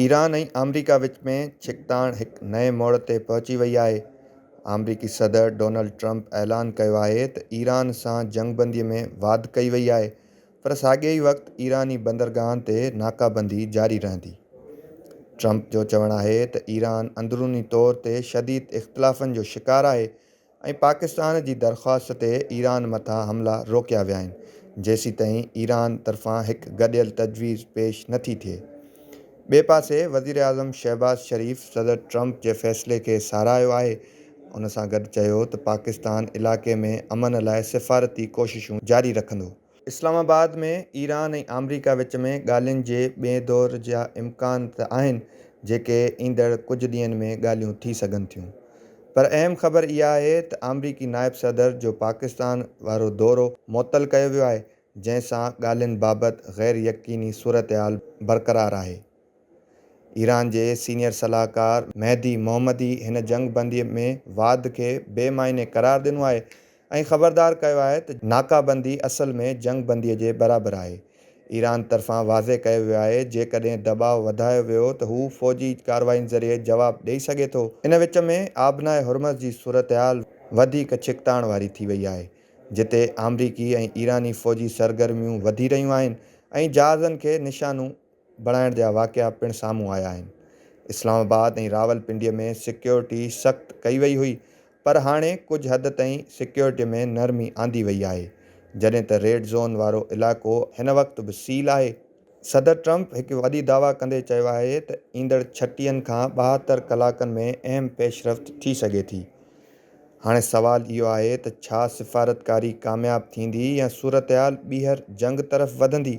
Iran ۽ آمريڪا وچ ۾ ڇڪتاڻ هڪ نئين موڙ تي پهچي وئي آهي. آمريڪي صدر ڊونلڊ ٽرمپ اعلان ڪيو آهي ته ايران سان جنگ بندي ۾ واڌ ڪئي وئي آهي پر ساڳئي وقت ايراني بندرگاهن تي ناڪابندي جاري رهندي. ٽرمپ جو چوڻ آهي ته ايران اندروني طور تي شديد اختلافن جو شڪار آهي ۽ پاڪستان جي درخواست تي ايران مٿان حملا روڪيا ويا آهن جيسيتائين ايران طرفان هڪ گڏيل تجويز پيش نه ٿي ٿئي. ٻئي پاسي وزيراعظم شهباز شريف صدر ٽرمپ جي فيصلي کي ساراهيو آهي ان سان گڏ چيو ته پاڪستان علائقي ۾ امن لاء سفارتي ڪوششون جاري رکندو. اسلام آباد ۾ ايران ۽ آمريڪا وچ ۾ ڳالهين جي ٻئين دور جا امڪان ته آهن جيڪي ايندڙ ڪجهه ڏينهن ۾ ڳالهيون ٿي سگهن ٿيون پر اهم خبر اها آهي ته آمريڪي نائب صدر جو پاڪستان وارو دورو معطل ڪيو ويو آهي جنهن سان ڳالهين بابت غير يقيني صورتحال برقرار آهي. ايران جي سينيئر صلاحڪار مهدي محمدي هن جنگ بندي ۾ واڌ کي بي معني قرار ڏنو آهي ۽ خبردار ڪيو آهي ته ناڪا بندي اصل ۾ جنگ بندي جي برابر آهي. ايران طرفان واضح ڪيو ويو آهي جيڪڏهن دٻاء وڌايو ويو ته هو فوجي ڪارروائين ذريعي جواب ڏئي سگهي ٿو. ان وچ ۾ آبناء هرمز جي صورتحال وڌيڪ ڇڪتاڻ واري ٿي وئي آهي جتي آمريڪي ۽ ايراني فوجي سرگرميون وڌي رهيون آهن ۽ جهازن کي نشانو بڻائڻ جا واقعا پڻ سامهون آيا آهن. اسلام آباد ۽ راولپنڊي ۾ سيڪيورٽي سخت ڪئي وئي هئي پر هاڻي ڪجهه حد تائين سيڪيورٽي ۾ نرمي آندي وئي آهي جڏهن ته ريڊ زون وارو علائقو هن وقت به سيل آهي. صدر ٽرمپ هڪ وڏي دعويٰ ڪندي چيو آهي ته ايندڙ ڇٽين کان ٻاهتر ڪلاڪن ۾ اهم پيشرفت ٿي سگهي ٿي. هاڻي سوال اهو آهي ته ڇا سفارتڪاري ڪامياب ٿيندي يا صورتحال ٻيهر جنگ طرف وڌندي؟